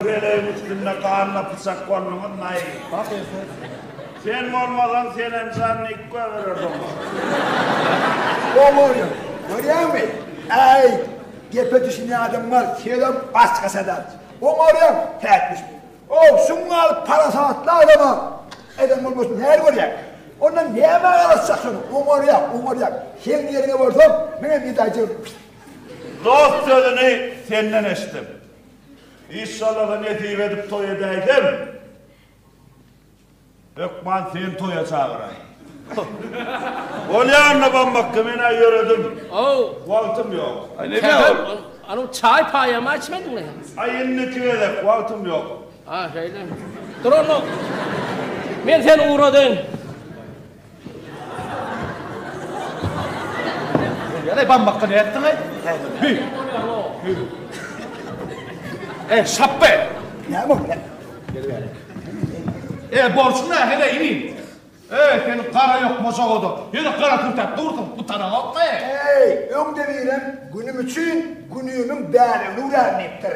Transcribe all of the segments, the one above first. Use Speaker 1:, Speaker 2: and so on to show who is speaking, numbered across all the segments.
Speaker 1: Pelegiň üstünde ganly pyçak bolduňyz naýy. Bak ertir. Sen bolmasaň senem
Speaker 2: jan diyip göbelerdi oňa. Oňoýly. Görýäňmi? Äý, gepe düşünýän adam bar, senem başga sadap. Oňarýaň, päkmiş. Ow, şuň galyp parasatly adama eden bolmasyn nädip görýäň? Ondan nämä garaşjak soň? Oňarýaň, oňarýaň. Seň ýeriňe bolsam, menem ýedi aý jygyrdym.
Speaker 1: Dost sözüni senden eşitdim. Işşalaha nesip edip toý edäýsem, hökman seni toýa çagyraýyn. Bolýanna bammakka men-ä ýöredim. Ow. Wagtym ýok. Aý neme ol?
Speaker 3: Anyň çaý paýamy içmediňmi sen? Aý indiki gezek
Speaker 1: wagtym ýok. Ha şeýlemi.
Speaker 3: Dur onda. Men seni ugradaýyn.
Speaker 4: Ýa-da bambakga näme etdiň-aý? Hü. Hü. Ey, şapbe! Näme bolýa?
Speaker 2: Gel bärik.
Speaker 4: Ey, borjuň nähede, inim? Ey, seniň gara ýok mojagoda. Ýöne gara kürtäp dursuň, gutaraňokmy? Ey, öňde
Speaker 2: birem günüm üçin günümiň bäregini urärin diýipdir.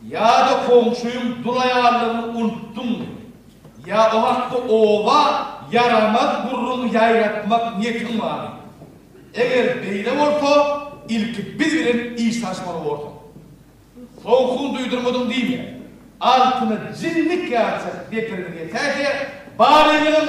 Speaker 4: Ýa-da goňşyň dul aýallygyny unutdyňmy? Ýa o hakda oba ýaramaz gürrüň ýaýratmak niýetiň barmy? Eger beýle bolsa, ilki biz bilen iş salyşmaly borsuň. Sowugyňy duýdurmadyň diýme. Altyna jinnik ýatyr, depirini ýetäýse, baryňyzyň!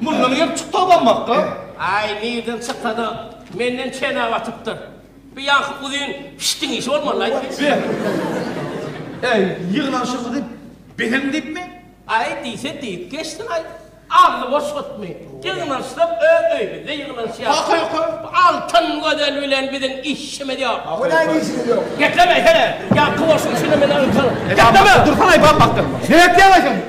Speaker 4: Mundan gelip çykdy abanmakka. Aý, nirden
Speaker 3: çyksa-da, menden çenä batypdyr. Bu ýaňky uzyn pişdiň işi bolmaly-la aýt. Beh. Äý,
Speaker 4: ýygnanyşymyzy bezeň diýipmi? Aý, diýse
Speaker 3: diýip geçsin aý. Agzy boş gutmy? Ýygnanyşsak öz öýümizde ýygnanyşýarys. Hakyky. Bu Altyn gözel bilen biziň işimiz ýok. A holaý ne işimiz ýok?
Speaker 2: Geplemeý, hene,
Speaker 3: ýaňky boş işini menden öňki. Gepleme! Dursana-aý, banmakdan.
Speaker 4: Ne gepleýäň-aý sen?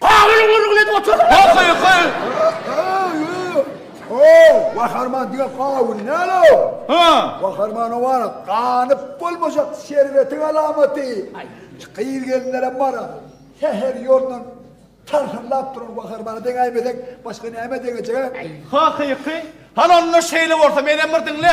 Speaker 3: Pawel gürrüňini edip otur.
Speaker 4: Ho-ho-ho!
Speaker 2: Gaharman diýen Pawel näle ol? Hä? Gaharman
Speaker 4: oňa
Speaker 2: ganyp bolmajak serwetiň alamaty. Gyz-gelinlerem bar-a. Sähel ýoldan tarhyrlap duran Gaharmana deňäýmeseň, başga nämä deňejek-ä? Hakyky?
Speaker 4: Hany onda şeýle bolsa, menem bir diňle.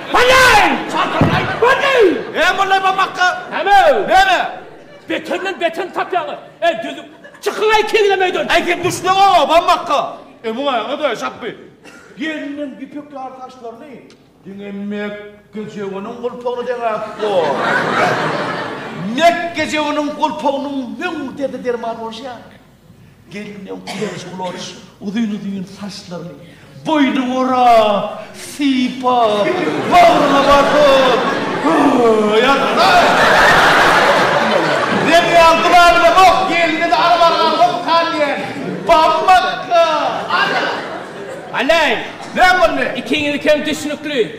Speaker 4: Heleý! Çadyryny aýdyp gördi! He, molla Ybammakga!
Speaker 3: Näme? Näme? Betenden beterini tapýaňyz. Äý, düzüň! Çykyň-aý keňlem öýden! Äý, sen düşdüň oňa,
Speaker 4: Ybammakga! Äý, muňa öňe-de şapby! Gelniň ýüpek ýaly saçlaryny diňe Mekgejewiniň gulpagyna deňäpdi. Mekgejewiniň gulpagynyň müň derdi-dermany bolşy ýaly. Gelinem ulanç-ulanç uzyn-uzyn saçlaryny boýnuna orap, sypap, bagryna basyp, Höý, ýazgylay! Diýen ýazgylay bilen oh gelnine-de alyp barýan hop kal diýen bammakka. Ana!
Speaker 3: Alaý, näme
Speaker 4: boldy? Ikiňizikem düşnükli.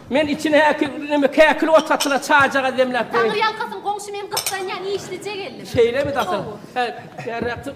Speaker 3: Men içine häki neme käkil ot satyla çajagaz demläp berin. Taňry ýalkasyn
Speaker 5: goňşy men gyssanýan işlije geldim.
Speaker 3: Şeýlemi dasyl.
Speaker 5: Gowy. He,
Speaker 3: bärräk
Speaker 5: çyk.